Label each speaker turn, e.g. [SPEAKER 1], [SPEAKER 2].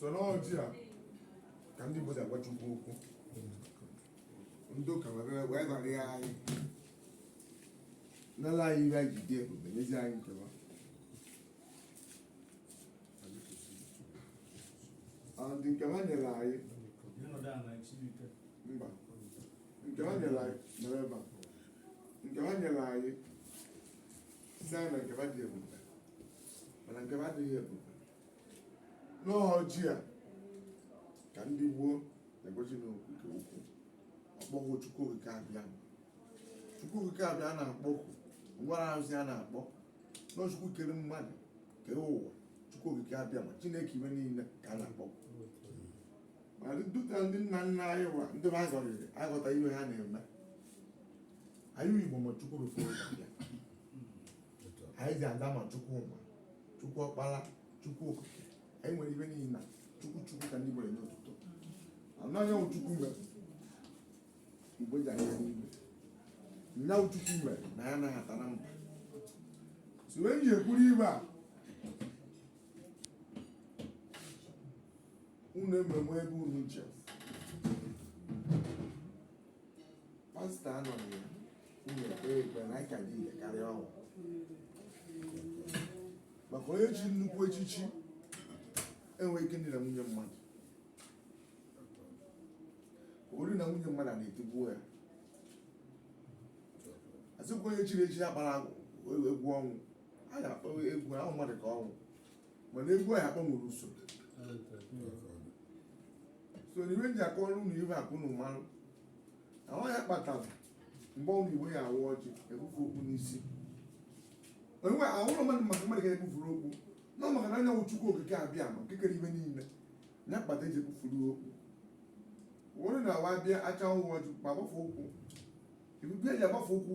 [SPEAKER 1] sọ n'ọjị a ka ndị Igbo ji agwa Chukwu okwu ndị ụka wee ghara ya anyị nala anyị ihe anyị ji dị ebube nyezi anyị nke wa ndị nke wa nyere anyị mba nke wa nyere anyị nke wa nyere anyị sị anyị na nke wa dị ebube mana nke wa adịghị ebube n'ọjị a ka ndị gboo na-egosi n'okwu nke ukwuu ọkpọghụ chukwu okike abịa chukwu okike abịa na-akpọkwu ngwara arụsị a na-akpọ na ọ chukwu kere mmadụ kee ụwa chukwu okike abịama chineke ife niile ka a na-akpọ ma dịka ndị nna nna anyị wa ndị ha zọrịrị aghọta ihe ha na-eme anyị igbo ma chukwu rụfe ụzọ bịa anyị ji aza ma chukwu ụma chukwu ọkpara chukwu okike anyị nwere ife niile na chukwu chukwu ka ndị gbere n'ụtụtụ anyanwụ chukwu mere igbo ji anya n'igwe anyanwụ chukwu mere na ya anaghị ata na mba si wee ji ekwuru ibe a unu ememe ebe unu nche pastọ anọ na ya unu ekpe ekpe na anyị ka dị ire karịa unu maka onye chiri nnukwu echichi enweghị ike idina nwunye mmadụ o dina nwunye mmadụ ana etigbuo ya asịkwa onye chiri echi ya gbara agwụ egwu ọnwụ a ga-akpọ egwu ahụ mmadụ ka ọ nwụọ mana egwu ahụ agbanwere usoro so na ife eji akọ ọrụ na ife akụ na ụmarụ na ọ ya kpatara mgbe onye igbo ya awa ọjị ebufe okpu n'isi onwe ahụrụ mmadụ maka mmadụ ga-ebufuru okpu na ọ maka na anyanwụ chukwu okike abịama nke kere ife niile ya kpata eji ebufuru okpu wụrụ na awa bịa acha ọnwụ ọjị ma gbafe ụkwụ ebube eji agbafe ụkwụ